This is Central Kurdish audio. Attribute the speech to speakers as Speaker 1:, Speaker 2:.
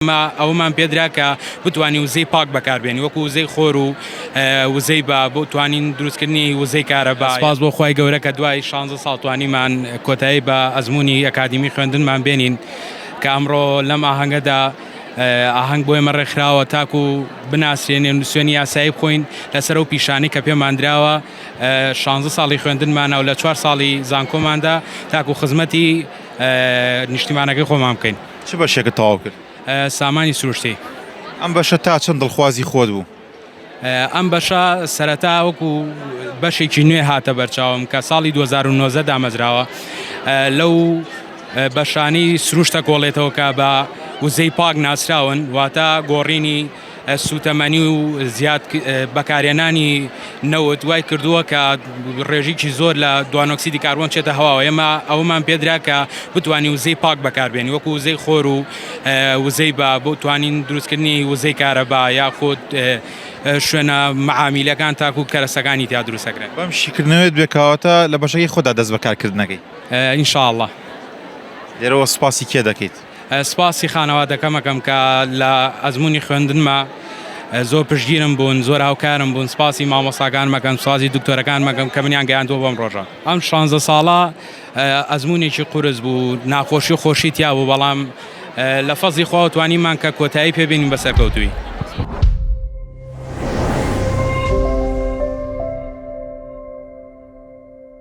Speaker 1: ئێمە ئەوەمان پێدرا کە بتوانین وزەی پاک بەکاربێنین وەکو وزەی خۆر و وزەی با بۆ توانین دروستکردنی وزەی کارەبا. سپاس بۆ خوای گەورە کە دوای شانزە ساڵ توانیمان کۆتایی بە ئەزموونی ئەکادیمی خوێندنمان بێنین کە ئەمڕۆ لەم ئاهەنگەدا ئاهەنگ بۆ ئێمە ڕێکخراوە تاکو بناسرێنین و نسوێنی یاسایی بخۆین لەسەر ئەو پیشانەی کە پێمان دراوە شانزە ساڵی خوێندنمانە و لە چوار ساڵی زانکۆماندا تاکو خزمەتی نیشتیمانەکەی خۆمان بکەین. چ بەشێکت تەواو
Speaker 2: کرد؟ سامانی
Speaker 1: سروشتی. ئەم بەشە تا
Speaker 2: چەند دڵخوازی خۆت بوو؟ ئەم
Speaker 1: بەشە سەرەتا وەکو بەشێکی نوێ هاتە بەرچاوم کە ساڵی 2009 دامەزراوە لەو بەشانی سروشتە کۆڵێتەوە کە بە وزەی پاک ناسراون واتە گۆڕینی سووتەمەنی و زیاد بەکارهێنانی نەوت وای کردووە کە ڕێژیکی زۆر لە دوانۆکسیدی کاربۆن چێتە هەواوە ئێمە ئەومان پێدرا کە بتانی وزەی پاک بەکاربێنی وەکو وزەی خۆر و وزەی بە بۆ توانین دروستکردنی وزەی کارەبا یاخود شوێنە معامیلەکان تاکو کەرەسەکانی تیا دروستەکرێن بەم شیکردنەوەت
Speaker 2: بێکاواتە لە بەشەکەی خۆدا دەست بەکارکردنەکەی ئینشاء اللە لێرەوە سوپاسی کێ دەکەیت؟ سپاسی
Speaker 1: خانەوادەکەم ئەکەم کە لە ئەزموونی خوێندنما زۆر پشتگیرم بوون، زۆر هاوکارم بوون، سپاسی مامۆستاکانم ئەکەم، سپاسی دکتۆرەکانم ئەکەم کە منیان گەیاندووە بەم ڕۆژە. ئەم شانزە ساڵە ئەزموونێکی قورس بوو، ناخۆشی و خۆشی تیا بوو، بەڵام لە فەزڵی خواوە توانیمان کە کۆتایی پێ بێنین بە سەرکەوتوویی.